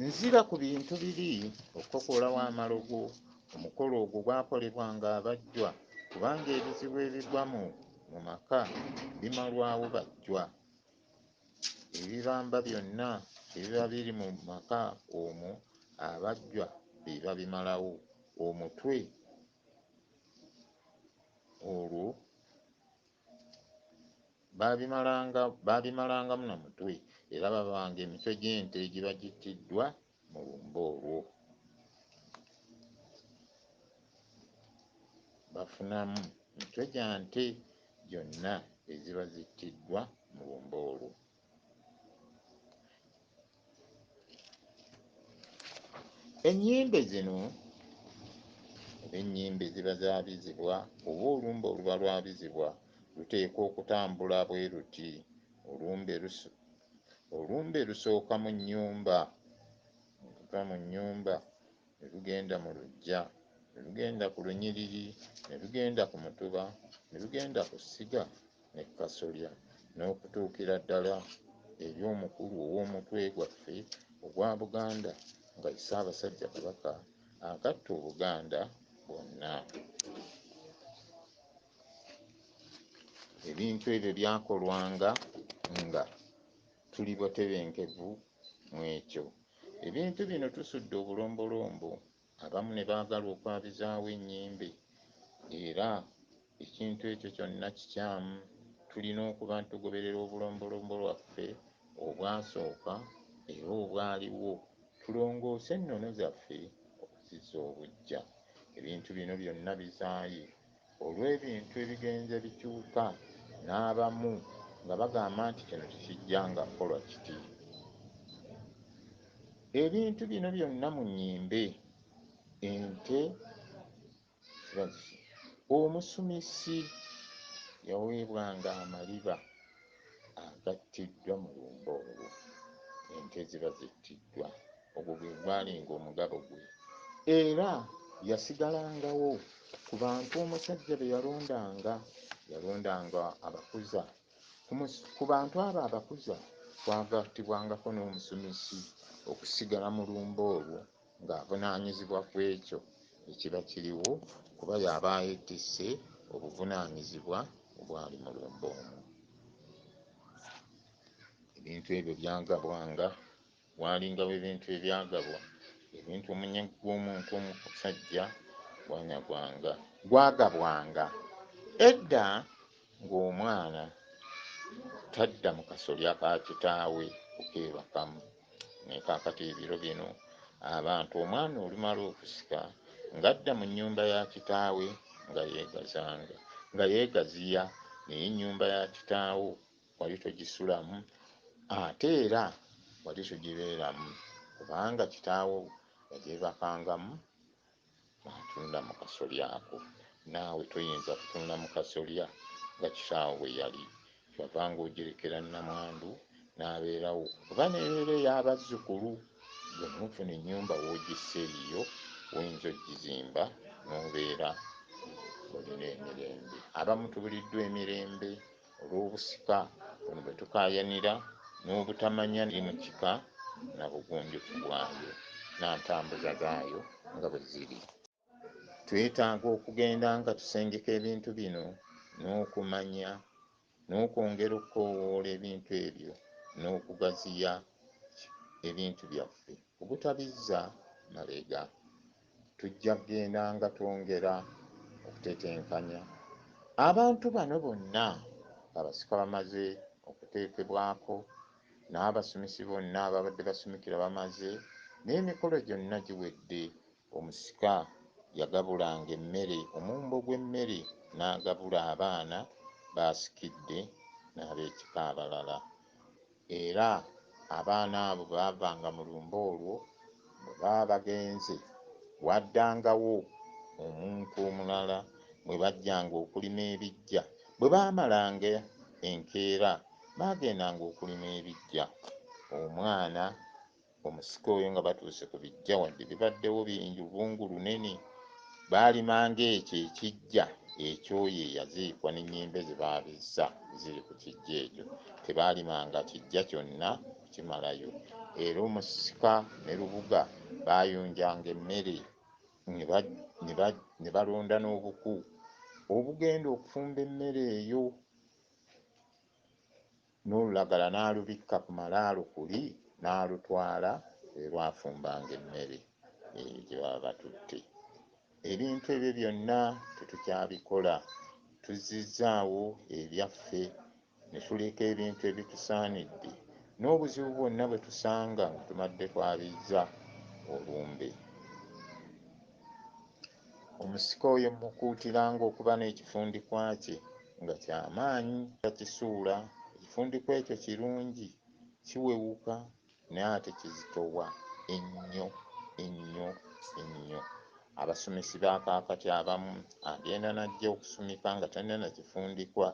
Nzira ku bintu biri okukokoolawo amalogo. Omukolo ogwo gwakolebwanga abajjwa kubanga ebizibu ebigwa mu mu maka bimalwawo bajjwa. Ebibamba byonna ebiba biri mu maka omwo abajjwa be babimalawo. Omutwe olwo. Baabimalangamu na mutwe, era baabanga emitwe gy'ente egiba gittiddwa mu lumbe olwo. Bafunamu mitwe gya nte gyonna eziba zittiddwa mu lumbe olwo. ennyimbe zino oba ennyimbe ziba zabizibwa oba olumbe oluba lwabizibwa luteekwa okutambula bwe luti olumbe lusu olumbe lusooka mu nnyumba okuva mu nnyumba ne lugenda mu luggya, ne lugenda ku lunyiriri, ne lugenda ku mutuba, ne lugenda ku ssiga ne ku kasolya, n'okutuukira ddala eri omukulu ow'omutwe gwaffe ogwa Buganda nga ye Ssaabasajja Kabaka agatta Obuganda bwonna. Ebintu ebyo byakolwanga nga tuli batebenkevu mw'ekyo. Ebintu bino tusudde obulombolombo abamu ne baagala okwabizaawo ennyimbe era ekintu ekyo kyonna kikyamu. Tulina okuba nti tugoberera obulombolombo lwaffe obwasooka era obwaliwo, tulongoose ennono zaffe okuzizza obuggya. Ebintu bino byonna bizaaye. olw'ebintu ebigenze bikyuka n'abamu nga bagamba nti kino tekijjanga kukolwa kiti. Ebintu bino byonna mu nnyimbe ente ziba zisi. Omusumisi yaweebwanga amaliba agattiddwa mu lumbe olwo ente ziba zittiddwa. Ogwo gwe gwalinga omugabo gwe. Era yasigalangawo ku bantu omusajja be yalondanga. Yalondanga abakuza. Ku, ku bantu abo abakuza kwagattibwangako n'omusumisi okusigala mu lumbe olwo ng'avunaanyizibwa ku ekyo ekiba kiriwo kuba y'aba yeetisse obuvunaanyizibwa obwali mu lumbe omwo. Ebintu ebyo byagabwanga Waalingawo ebintu ebyagabwa, ebintu omunyagwa gw'omuntu omusajja gwanyagwanga. Gwagabwanga. Edda ng'omwana tadda mu kasolya ka kitaawe kukeebakamu. Naye kaakati ebiro bino abantu omwana olumala okusika ng'adda mu nnyumba ya kitaawe nga yeegazanga, nga yeegaziya naye ennyumba ya kitaawo. wali togisulamu ate era wali togibeeramu kubanga kitaawo yagyebakangamu n'atunda mu kasolya ako. Naawe toyinza kutunda mu kasolya nga kitaawo bwe yali. Ky'ova ng'ogirekera nnamwandu n'abeerawo kuba n'ebeera ey'abazzukulu. Ggwe n'ofuna ennyumba w'ogissa eyiyo w'oyinza okugizimba n'obeera ng'olina emirembe. Abamu tubuliddwa emirembe. Olw'obusika buno bwe tukaayanira n'obutamanya eri mu kika na bugunjufu bwayo na ntambuza gaayo nga bwe ziri, twetaaga okugenda nga tusengeka ebintu bino n'okumanya n'okwongera okukoowoola ebintu ebyo n'okugaziya ebintu byaffe obutabizza mabega Tujja kugendanga twongera okutetenkanya abantu bano bonna ng'abasika bamaze okuteekebwako n'abasumisi bonna ababadde basumikira bamaze n'emikolo gyonna giwedde. Omusika yagabulanga emmere, omumbo gw'emmere n'agabula abaana b'asikidde n'ab'ekika abalala. Era abaana abo bwe baavanga mu lumbe olwo, bwe baba bagenze, waaddangawo omuntu omulala mwe bajjanga okulima ebiggya. Bwe baamalanga enkeera, baagendanga okulima ebiggya. Omwana Omusika oyo nga batuuse ku bijja wadde bibaddewo bingi lubungu lunene. Baalimanga ekyo ekijja eky'oyo eyaziikwa n'ennyimbe ze baabizza ziri ku kijja ekyo. Tebaalimanga kijja kyonna kukimalayo. Era omusika ne lubuga baayonjanga emmere ne balonda n'obuku obugenda okufumba emmere eyo. n'olulagala n'alubikka ku malaalo kuli n'alutwala we lwafumbanga emmere eyo gye baba batutte. Ebintu ebyo byonna tetukyabikola. Tuzzizzaawo ebyaffe ne tuleka ebintu ebitusaanidde n'obuzibu bwonna bwe tusanga nga tumadde twabizza olumbe. Omusika oyo mmukuutiranga okuba n'ekifundikwa kye nga kya maanyi, takisuula. Ekifundikwa ekyo kirungi, kiwewuka, naye ate kizitowa ennyo, ennyo, ennyo. Abasumisi ba kaakati abamu, agenda n'ajja okusumika nga talina na kifundikwa,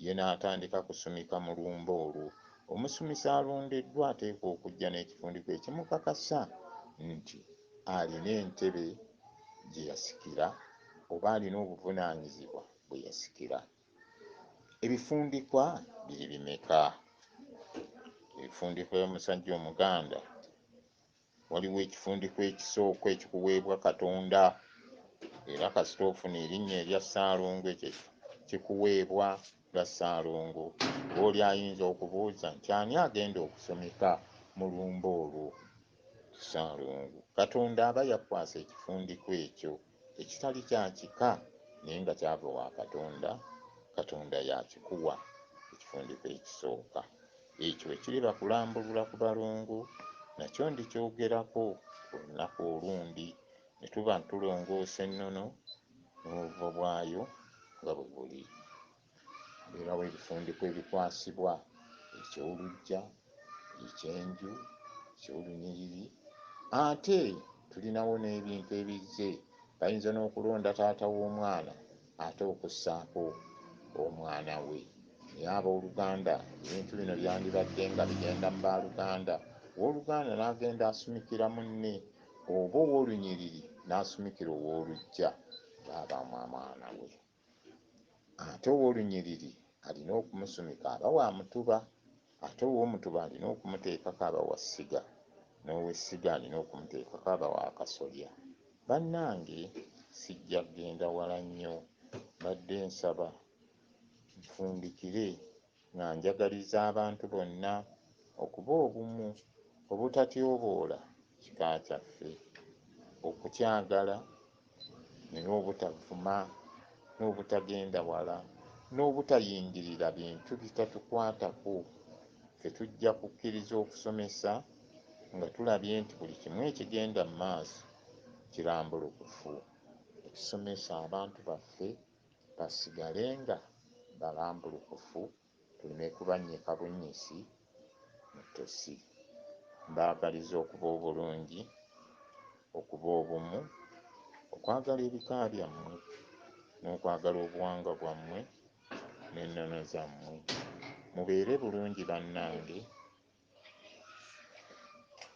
ye n'atandika kusumika mu lumbe olwo. Omusumisi alondeddwa ateekwa okujja n'ekifundikwa ekimukakasa nti. alina entebe gye yasikira oba alina obuvunaanyizibwa bwe yasikira. Ebifundikwa biri bimeka? Ebifundikwa by'omusajja Omuganda, waliwo ekifundikwa ekisooka ekikuweebwa Katonda era kasita ofuna erinnya erya Ssaalongo ekyo kikuweebwa nga Ssaalongo. Oli ayinza okubuuza nti ani agenda okusomeka mu lumbe olwo? Ssalongo. Katonda aba yakukwasa ekifundikwa ekyo ekitali kya kika naye nga kyava wa Katonda, Katonda y'akikuwa ekifundikwa ekisooka. Ekyo bwe kiriba kulambulula ku balongo nakyo ndikyogerako olunaku olundi ne tuba tulongoosa ennono n'obuvo bwayo nga bwe buli. Mbeerawo ebifundikwa ebikwasibwa eky'oluggya, eky'enju, eky'olunyiriri ate tulinawo n'ebintu ebizze bayinza n'okulonda taata w'omwana ate okussaako omwana we. Naye abooluganda ebintu bino byandibadde nga bigenda mu baaluganda, owooluganda n'agenda asumikira munne oba owoolunyiriri n'asumikira owooluggya ng'abaamu amwana we. Ate ow'olunyiriri alina okumusumika aba wa mutuba, ate ow'omutuba alina okumuteekako aba wa ssiga, n'ow'essiga alina okumuteekako aba wa kasolya. Bannange sijja kugenda wala nnyo, mbadde nsaba nfundikire. nga njagaliza abantu bonna okuba obumu, obutatyoboola kika kyaffe, okukyagala, naye obutavuma, n'obutagenda wala, n'obutayingirira bintu bitatukwatako, ffe tujja kukkiriza okusomesa nga tulabye nti buli kimu ekigenda mu maaso kirambulukufu. Ekisomesa abantu baffe. basigale nga balambulukufu tuleme kubannyika bunnyisi mu ttosi. Mbaagaliza okuba obulungi, okuba obumu, okwagala ebika byammwe n'okwagala obuwangwa bwammwe n'ennono zammwe. Mubeere bulungi bannange,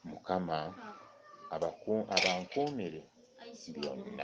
Mukama abankuumire byonna.